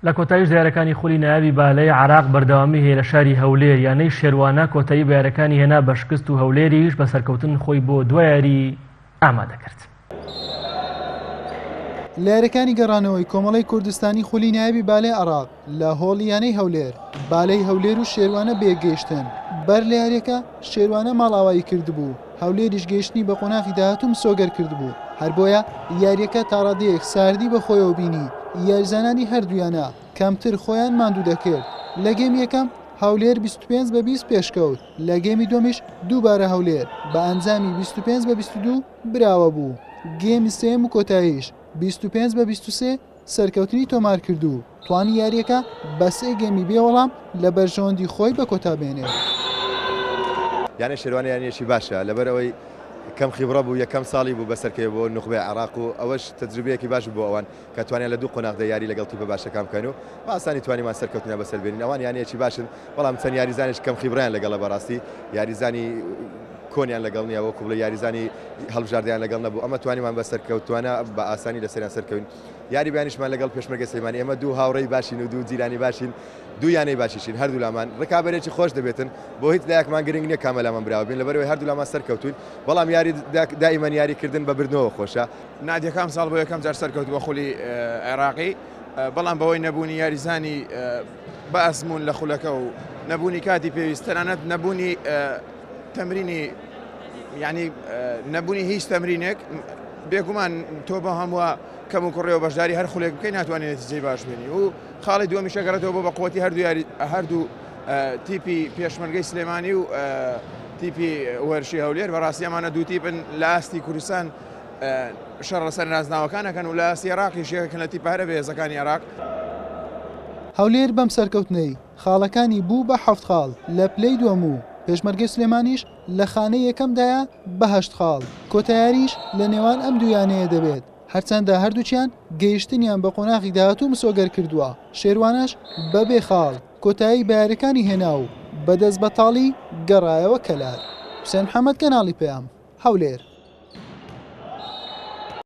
لە کۆتاییشدا یارەکانی خولی نایابی بالەی عێراق بەردەوامی هەیە لە شاری هەولێر، یانەی شێروانە کۆتایی بە یارەکانی هێنا بە شکست و هەولێریش بە سەرکەوتن خۆی بۆ دوا یاری ئامادە کرد. لە یارەکانی گەڕانەوەی کۆمەڵەی کوردستانی خولی نایابی بالەی عێراق لە هۆڵی یانەی هەولێر، بالەی هەولێر و شێروانە بەیەکگەیشتن بەر لە یارییەکە، شێروانە ماڵئاوایی کردبوو، هەولێریش گەیشتنی بە قۆناغی داهاتوو مسۆگەر کردبوو، هەر بۆیە یارییەکە تا ڕادەیەک ساردی بە خۆیەوە بینی، یاریزانانی هەردوویانە کەمتر خۆیان ماندوو دەکرد، لە گێمی یەکەم هەولێر بیست و پێنج بە بیست پێشکەوت، لە گێمی دووەمیش دووبارە هەولێر بە ئەنجامی بیست و پێنج بە بیست و دوو براوە بوو، گێمی سێیەم و کۆتاییش بیست و پێنج بە بیست و سێ. سەرکەوتنی تۆمارکردو توانی یارییەکە بە سێ گێمی بێ وەڵام لە بەرژەوەندی خۆی بە کۆتا بێنێت. یانەی شێروانە یانەیەکی باشە، لەبەرئەوەی کەم خیبڕە بوو، یەکەم ساڵی بوو بەسەرکەوێ بۆ نوخبەی عێراق و ئەوەش تەجروبەیەکی باش بوو بۆ ئەوان کە توانیان لە دوو قۆناغدا یاری لەگەڵ تیپە باشەکان بکەن و بە ئاسانی توانیمان سەرکەوتنیان بەسەر بێنین، ئەوان یانەیەکی باشن بەڵام چەند یاریزانێکی کەم خیبڕەیان لەگەڵە بەڕاستی یاریزانی کۆنیان لەگەڵ نیە وەکو بڵێی یاریزانی هەڵبژاردەیان لەگەڵ نەبوو ئەمە توانیمان بە سەرکەوتوانە بە ئاسانی لەسەریان سەرکەوین یاری بیانیشمان لەگەڵ پێشمەرگەی سلێمانی ئێمە دوو هاوڕێی باشین و دوو جیرانی باشین دوو یانەی باشیشین هەردوولامان ڕکابەرێکی خۆش دەبێتن بۆ هیچ لایەکمان گرنگ نیە کامەلامان براوە بین لەبەرەوەی هەردوولامان سەرکەوتوین بەڵام یاری دائیمەن یاریکردن بە بردنەوە خۆشە نادیەکە ئەمساڵ بۆ یەکەم جار سەرکەوت بە خولی عێراقی بەڵام بەوەی نەبوونی یاریزانی بە ئەزموون لە خولەکە و نەبوونی کاتی پێویست تەنانەت نەبوونی تەمرینی یعنی نەبوونی هیچ تەمرینێک بێگومان تۆ بە هەمووە کەم و کوڕێەوە بەشداری هەر خولێک بکەی ناتوانێت جێ باش بێنی و خاڵی دووەمی شەگەڕێتەوە بۆ بە قوتی هەردوو یاری هەردوو تیپی پێشمەرگەی سلێمانی و تیپی وەرشی هەولێر بەڕاستی ئەمانە دوو تیپن لە ئاستی کوردستان شەڕ لەسەر نازناوەکانەکەن و لە ئاستی عێراقی شێکەکەن لە تیپارە بەهێزەکانی عێراق. هەولێر بەم سەرکەوتنەی خاڵەکانی بوو بە حەفت خاڵ لە پلەی دووەم و پێشمەرگەی سلێمانیش لە خانەی یەکەمدایە بە هەشت خاڵ، کۆتا یارییش لە نێوان ئەم دوو یانەیە دەبێت، هەرچەندە هەردووکیان گەیشتنیان بە قۆناغی داهاتوو مسۆگەر کردووە، شێروانەش بە بێ خاڵ کۆتایی بە یارییەکانی هێنا و بە دەست بەتاڵی گەڕایەوە کەلار. حوسێن محەمەد، کەناڵی پەیام، هەولێر.